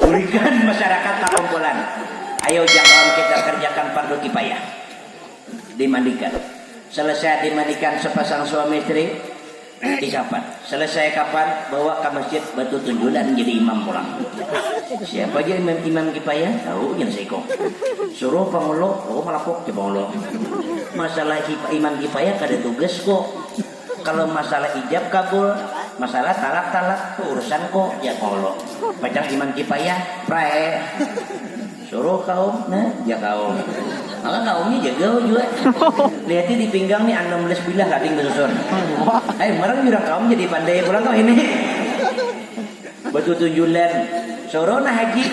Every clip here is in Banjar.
Bulikan masyarakat pakumpulan, ayo jak lawan kita karjakan pardu kipayah. Dimandikan. Selesai dimandikan sapasang suami isteri, disapat. Selesai kapan, bawa ka masjid batu tunjunan jadi imam pulang. Siapa ja imam imam kipayah, tahu jar saiko. Suruh pangulu, oh malapuk jar pangulu. Masalah imam kipayah kada tugas ko. Kalo masalah ijab kabul, masalah talak talak tu urusan ko ya kolo macam iman kipayah prae suruh kaum ne ya kaum maka kaum nya jegau jua lihati di pinggang ni anam belas bilah lading besusun hai merang jurang kaum jadi pandai pulang kami ni betutunjulan suruh nah haji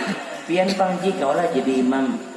pian pang ji kawa lah jadi imam.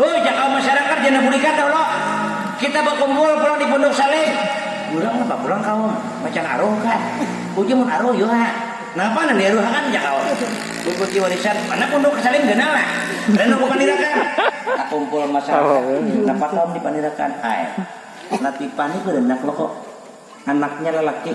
Hoi jaka masyarakat jana budikan tahu lo kita bakumpul pulang di pondok saleh urang napa pulang kaum macan aruh kah uji mun aruh yu ha napa nang diaruh akan jaka wan bungkusi warisan mana pondok saleh ganal nah randau ke pandirakan takumpul masyarakat napa kaum di pandirakan ai latifah ni baranak lo ko anaknya lalaki.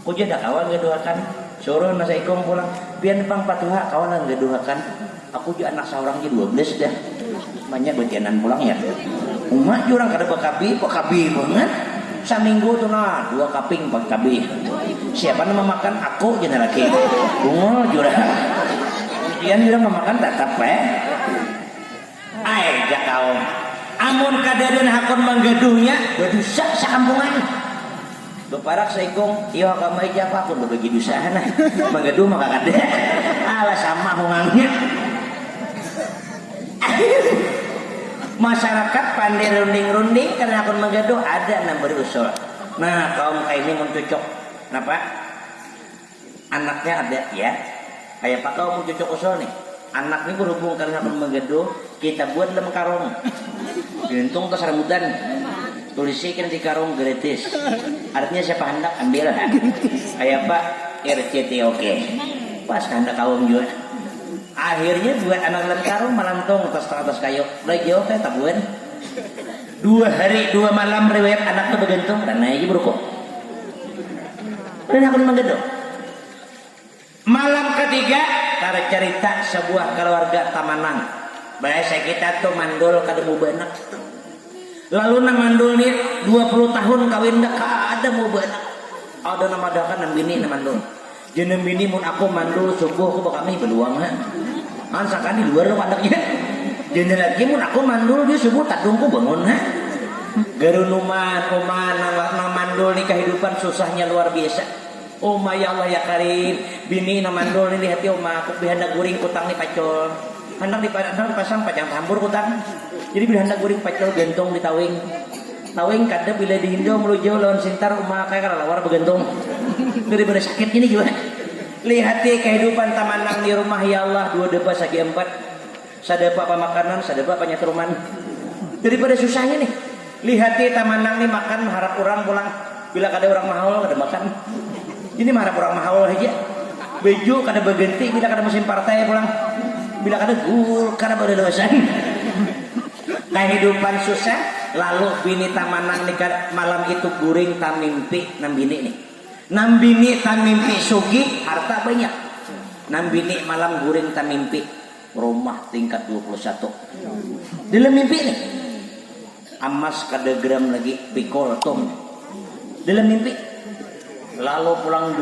Ujar dah kawan gaduhakan, surun asa ikung pulang, pian pang patuha kawalan gaduhakan, aku ja anak saurang ja dua belas dah, banyak bajanan pulang ya, uma ja urang kada bakabi, bakabi bangat, saminggu tu nah dua kaping pang cabai, siapa nang mamakan, aku ja nah lagi, bungul jua, mun pian jua nang mamakan tatap bae. Ai, jar kaum, amun kadadaan hakun manggaduhnya, badusa sakampungan. Baparak saikung, iyo hakam ai jar hakun babagi dusa ha nah, manggaduh maka kada, alah sama hungangnya. Masarakat pandai runding-runding kada hakun manggaduh, ada nang bari usul, nah kaum kaini mun cucuk napa? Anaknya ada ya. Kaya apa kau mun cucuk usul nih. Anak nih berhubung kada sapan begaduh, kita buat dalam karung. Juntung tuh sarabutan. Tulisikan di karung gratis. Artinya siapa handak ambil ha. Kaya apa rctok. Pas kahandak kawin jua. Akhirnya buat anak dalam karung malantung atas tang atas kayu. Mulai jauh kaya tabuan. Dua hari dua malam riwayat anak tuh bagantung. Ranai ja baruku. Dan hakun manggedok. Malam katiga, tarcarita sabuah kaluarga tamanang. Bahasa kita tu mandul kada mau baanak. Lalu nang mandul ni dua puluh tahun kawin dah kada mau baanak. Ada nang madahakan nang bini nang mandul. Jar nang bini, mun aku mandul subuh aku bakamih baluang ha. Mansakan di luar handak inya dini lagi mun aku mandul jua subuh tadung ku bangun ha garunuman uma nang nang mandul ni kahidupan susahnya luar biasa uma ya Allah ya karim bini nang mandul ni di hati uma aku bila handak guring kutang ni pacul handak di handak di pasang pacang tambur kutang jadi bila handak guring pacul gantung di tawing tawing kada bila di hindau malujau lawan sintar uma kaya kalelawar bagantung daripada sakit ini jua. Lihati kahidupan taman nang di rumah ya Allah dua deba sagi empat sada pa pamakanan sada ba panyatruman dari pada susah ini lihati taman nang ni makan maharap urang pulang bila kada urang mahaul kada makan ini maharap urang mahaul haja baju kada baganti bila kada musim partai pulang bila kada guul kada balalasan kahidupan susah lalu bini taman nang ni kada malam itu guring tamimpi nang bini ni. Nang bini tamimpi sugih, harta banyak. Nang bini malam guring tamimpi, rumah tingkat dua puluh satu. Dalam mimpi nih. Amas kada geram lagi pikul tum. Dalam mimpi. Lalu pulang.